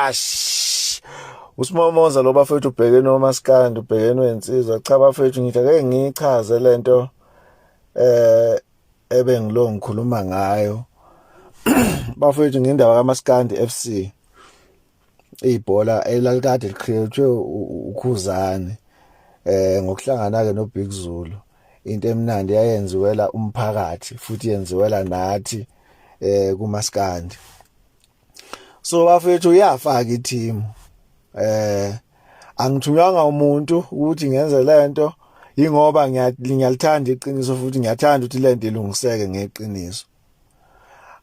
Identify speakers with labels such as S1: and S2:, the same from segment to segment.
S1: ash usimomoza lo bafethu ubhekene omaskandi ubhekene wensizwa cha bafethu ngithi ake ngichaze lento eh ebengilo ngikhuluma ngayo bafethu ngendaba kamaskandi FC ibhola elalikade liqhiyethwe ukhuzane eh ngokuhlangana ke no Big Zulu into emnandi yayenziwela umphakathi futhi yenziwela nathi eh kumaskandi so bafethu iyafaka i-team eh angithunywanga umuntu ukuthi ngenze lento ingoba ngiyalithanda iqiniso futhi ngiyathanda ukuthi lento ilungiseke ngeqiniso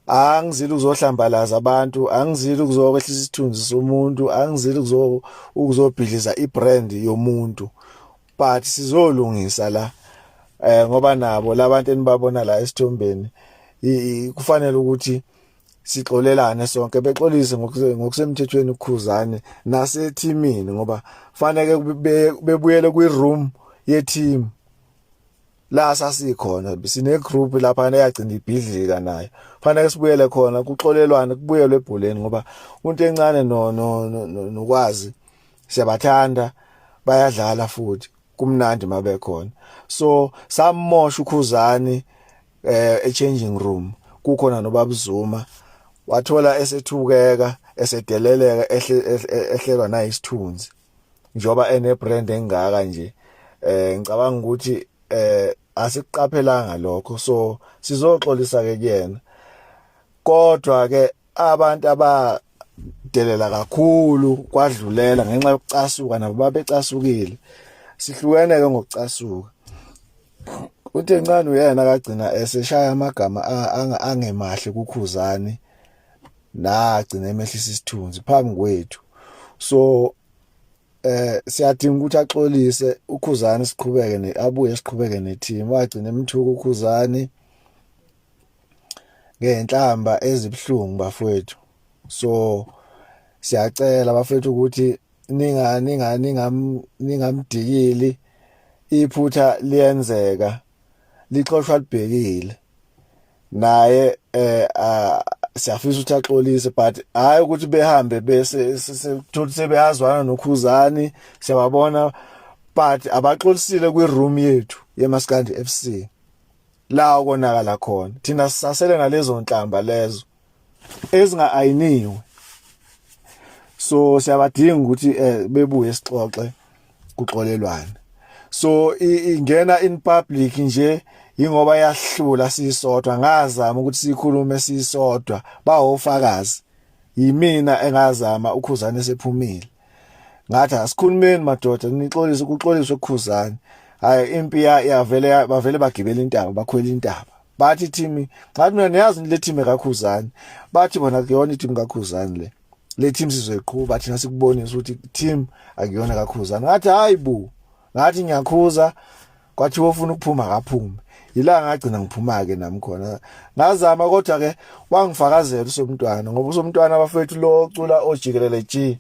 S1: angizile ukuzohlambalaza abantu angizile ukuzokwehlisa isithunzi somuntu angizile ukuzobhidliza ibrand yomuntu but sizolungisa la eh ngoba nabo labantu enibabona la esithombeni kufanele ukuthi sixolelane sonke bexolise ngokusemthethweni uKhuzane nasethimini ngoba faneke bebuyele kwiroom yeteam la sasikhona sine group lapha eyagcina ibhidlika nayo fanele sibuyele khona kuxolelwane kubuyelwe ebholeni ngoba umuntu encane no nokwazi siyabathanda bayadlala futhi kumnandi mabekhona so samosha ukhuzani eh e changing room kukhona nobabuzuma wathola esethukeka esedeleleka ehlelwa nayisithunzi njoba ene brand engaka nje eh ngicabanga ukuthi eh asiqaphelanga lokho so sizoxolisa ke kuyena kodwa ke abantu abadelela kakhulu kwadlulela ngenxa yokucasuka nabo babecasukile sihlukene ke ngokucasuka uthe ncane uyena akagcina eseshaya amagama angemahle kukhuzani nagcina emehlisa isithunzi phambi kwethu so eh siyadinga ukuthi axolise ukhuzani siqhubeke ne abuye siqhubeke ne team wagcina emthuka ukhuzani ngenhlamba ezibuhlungu bafowethu so siyacela bafowethu ukuthi ninga ninga ningam ningamdikili iphutha liyenzeka lixoshwa libhekile naye eh siyafisa ukuthi axolise but hayi ukuthi behambe bese sithola sebeyazwana nokhuzani siyababona but abaxolisile kwi room yethu yeMaskandi FC la okonakala khona thina sisasele nalezo nhlamba lezo ezinga ayiniwe so siyabadinga ukuthi eh, bebuye sixoxe kuxolelwane so ingena in public nje ingoba yahlula sisodwa ngazama ukuthi sikhulume sisodwa bawofakazi yimina engazama ukhuzane sephumile ngathi asikhulumeni madoda nixolise ukuxoliswa ekhuzani hayi impi yavele bavele bagibela intaba bakhwela intaba bathi thimi ngathi mina niyazi le team kakhuzani bathi bona kuyona i-team kakhuzani le le team sizoyiqhuba thina sikubonisa ukuthi team akuyona kakhuzani ngathi hayi bo ngathi ngiyakhuza kwathiwa ufuna ukuphuma akaphume yila ngagcina ngiphuma ke nami khona ngazama kodwa ke wangifakazela usomntwana ngoba usomntwana abafethu lo ocula ojikelele G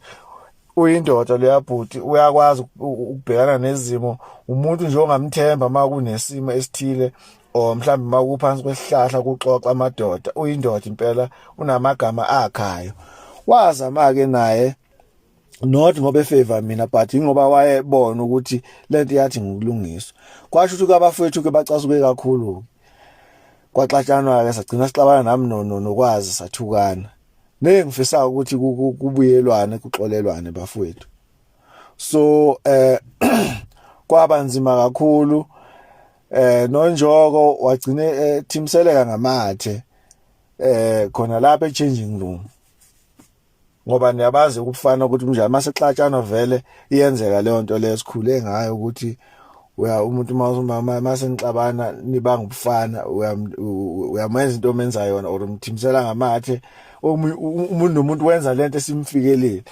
S1: uyindoda leyabhuti uyakwazi ukubhekana nezimo umuntu nje ongamthemba uma kunesimo esithile or mhlawumbe uma kuphansi kwesihlahla kuxoxa amadoda uyindoda impela unamagama akhayo wazama-ke naye not ngoba efavor mina but ingoba wayebona ukuthi lento yathi ngokulungiswa kwasho ukuthi abafowethu ke bacasuke kakhulu kwaxatshanwa ke sagcina sixabana nami no nokwazi sathukana ne ngifisa ukuthi kubuyelwane kuxolelwane bafowethu so eh kwaba nzima kakhulu eh nonjoko wagcine eh, thimseleka ngamathe eh khona lapha e changing room ngoba niyabazi ukufana ukuthi mnjani masexatshana vele iyenzeka leyo nto leyo sikhule ngayo ukuthi uya umuntu mawumama masenixabana nibanga ubufana uyamenza into omenza yona or umthimisela ngamathe umuntu nomuntu wenza lento esimfikelile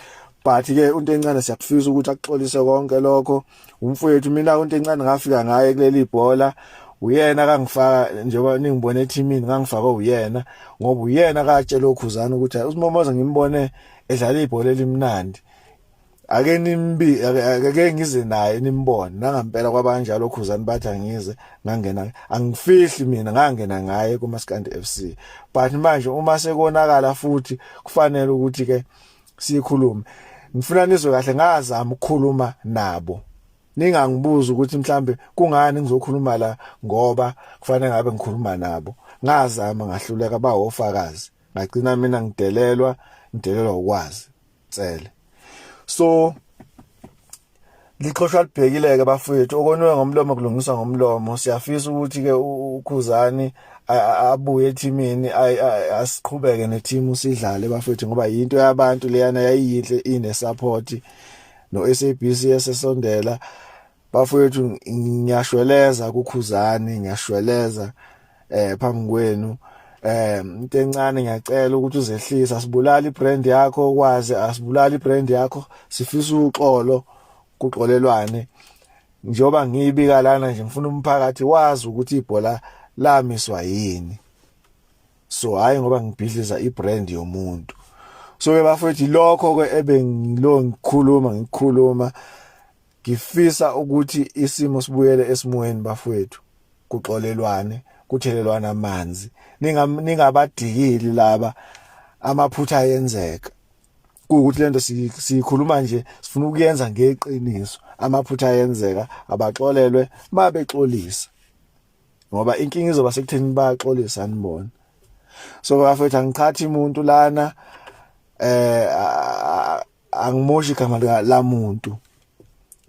S1: but ke into encane siyakufisa ukuthi akuxolise konke lokho umfowethu mina into encane ngafika ngaye kuleli bhola uyena kangifaka njengoba ningibone ethimini ngangifakwe uyena ngoba uyena katshela okhuzana ukuthi usimomoza ngimbone edlala ibhola elimnandi ake nimbi ake ngize naye nimbone nangampela kwabanjalo okhuzani bathi angize ngangena angifihli mina ngangena ngaye kumaskandi FC but manje uma sekonakala futhi kufanele ukuthi ke sikhulume ngifuna nizwe kahle ngazama ukukhuluma nabo ningangibuza ukuthi mhlambe kungani ngizokhuluma la ngoba kufanele ngabe ngikhuluma nabo ngazama ngahluleka bawofakazi ngagcina mina ngidelelwa ngidelelwa ukwazi tsele so lixhoshwa libhekile-ke bafowethu okonwe ngomlomo kulungiswa ngomlomo siyafisa ukuthi-ke ukhuzani abuye ethimini asiqhubeke nethimu sidlale bafowethu ngoba yinto yabantu leyana yayiyinhle ine-support no-sabc esesondela bafowethu ngiyashweleza kukhuzani ngiyashweleza eh phambi kwenu eh into encane ngiyacela ukuthi uzehlise asibulali ibrand yakho ukwazi asibulali ibrand yakho sifisa uxolo kuxolelwane njengoba ngiyibika lana nje ngifuna umphakathi wazi ukuthi ibhola lamiswa yini so hayi ngoba ngibhidliza ibrand yomuntu so ke bafethu lokho ke ebengilo ngikhuluma ngikhuluma Ngifisa ukuthi isimo sibuyele esimweni bafowethu kuxolelwane kuthelelwana amanzi ningabadikili laba amaphutha ayenzeka kuwukuthi lento siyikhuluma nje sifuna ukuyenza ngeqiniso amaphutha ayenzeka abaxolelwe mabexolisa ngoba inkinga izoba sekutheni baxolisa anibona so bafethu angiqhathi umuntu lana eh angimoshi igama lika lamuntu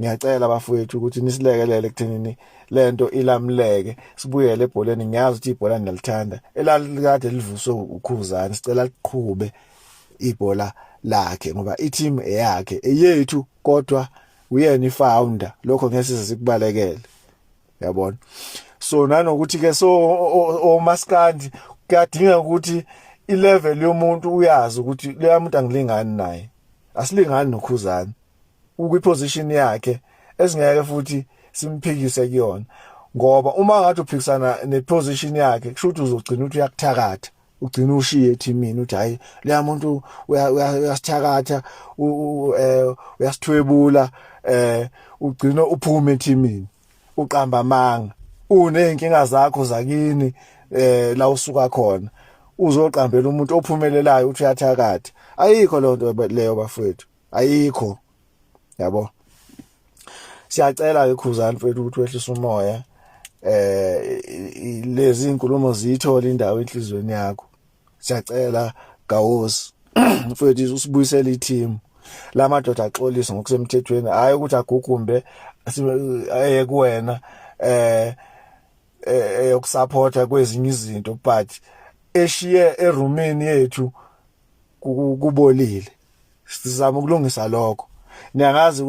S1: ngiyacela bafowethu ukuthi nisilekelele ekuthenini lento ilamleke sibuyele ebholeni ngiyazi ukuthi ibhola ngiyalithanda elalikade livuswe ukhuzani sicela liqhube ibhola lakhe ngoba i-team eyakhe eyethu kodwa uyena i-founder lokho ngeke size sikubalekele yabona so nanokuthi ke so omaskandi kuyadinga ukuthi ilevel yomuntu uyazi ukuthi leya muntu angilingani naye asilingani nokhuzani ukwi position yakhe esingeke futhi simphikise kuyona ngoba uma ngathi uphikisana ne position yakhe kusho ukuthi uzogcina ukuthi uyakuthakatha ugcina ushiye ethimini uthi hayi leya muntu uyasithakatha eh, uyasithwebula eh ugcina uphume ethimini uqamba amanga uneyinkinga zakho zakini eh la usuka khona uzoqambela umuntu ophumelelayo uthi uyathakatha ayikho lento leyo bafowethu ayikho yabo siyacela ke khuzani mfethu ukuthi wehlise umoya eh lezi inkulumo ziyithola indawo enhlizweni yakho siyacela gawosi mfethu usibuyisele i-team la madoda axolise ngokusemthethweni hayi ukuthi agukumbe aye kuwena eh eyokusupporta eh, kwezinye izinto but eshiye erumini yethu kubolile sizama ukulungisa lokho niyangazi ukuthi